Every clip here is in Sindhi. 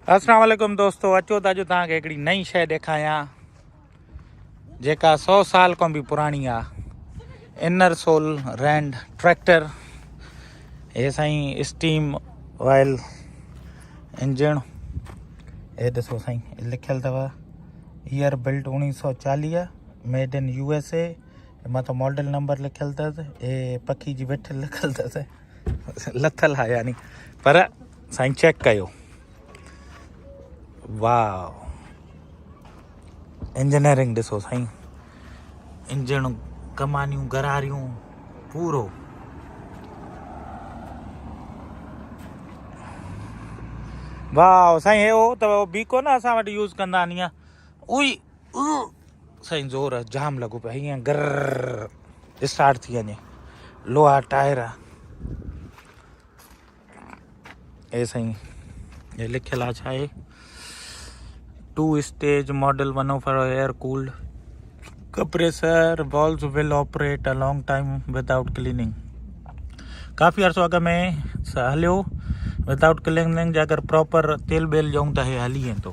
السلام عليڪم دوستو اچو ته اڄ تان کي هڪڙي نئين شئي ڏيکايان جيڪا 100 سال کان به پراڻي آ انر سول رينڊ ٽريڪٽر هي سائين اسٽيم وائل انجن هي ڏسو سائين لکيل اٿو year built 1940 made in U S A مٿو ماڊل نمبر لکيل اٿس اي پکي جي وٺ لکيل اٿس لٿل آ يعني پر سائين چيڪ ڪيو واو انجنيئرنگ ڏسو سائين انجڻ ڪمانيون گراريون پورو واو سائين هي هو ته بيڪو نه اسان وٽ يوز ڪندا آهن ائين اوئي سائين زور جام لڳو پيو ائين گر اسٽارٽ ٿي وڃي لوها ٽائر اي سائين هي لکيل آ ڇا هي two stage model one of air cold compressor valves will operate a long time without cleaning ڪافي عرصو اڳ ۾ هليو وداؤٽ ڪليننگ جي اگر پراپر تيل بيل ڏيون ته هي هلي ويندو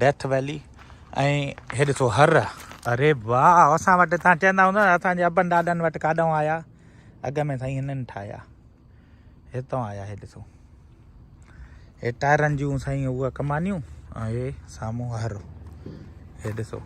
ڊيٿ ويلي ۽ هي ڏسو هر اري واهه اسان وٽ تان چيندا هوندا اسان جي ابن ڏاڏن وٽ ڪاڏون آيا اڳ ۾ سائين هنن ٺاهيا هتو آيا هي ڏسو هي ٽائرن جون سائين هو ڪمانيون ۽ هي سامو هر هي ڏسو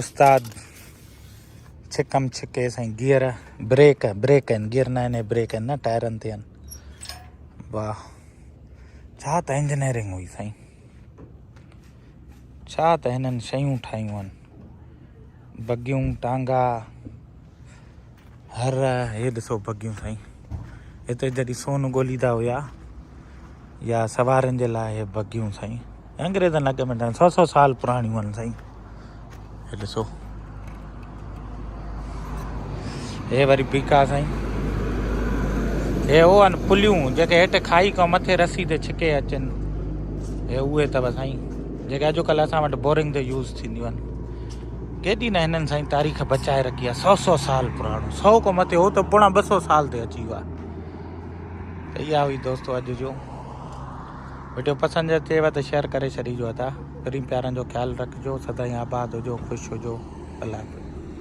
استاد ڇڪم ڇڪي سائين گيئر بريڪ بريڪ آهن گيئر نه آهن بريڪ آهن نه ٽائرن تي آهن واهه ڇا ته انجنيئرنگ هئي سائين ڇا ته هنن شيون ٺاهيون آهن بگيون ٽانگا هر هي ڏسو بگيون سائين هتي جڏهن سون ڳوليندا هيا يا سوارن جي لاء هي بگيون سائين انگريزن اڳ ۾ سو سو سال پراڻيون آهن سائين هي ڏسو هي وري بيڪا سائين هي هو آهن پليون جيڪي هيٺ کائي کان مٿي رسي تي ڇڪي اچن هي اهي اٿو سائين جيڪي اڄڪلهه اسان وٽ بورنگ تي يوز ٿينديون آهن ڪيڏي نه هنن سائين تاريخ بچائي رکي آهي سؤ سؤ سال پراڻو سؤ کان مٿي هو ته پوڻا ٻه سؤ سال تي اچي ويو آهي اها هئي دوستو اڄ جو ويڊيو پسند اچيو ته شيئر ڪري ڇڏيجو ادا پرين پيارن جو خيال رکجو سدائين آباد هجو خوش هجو الله حافظ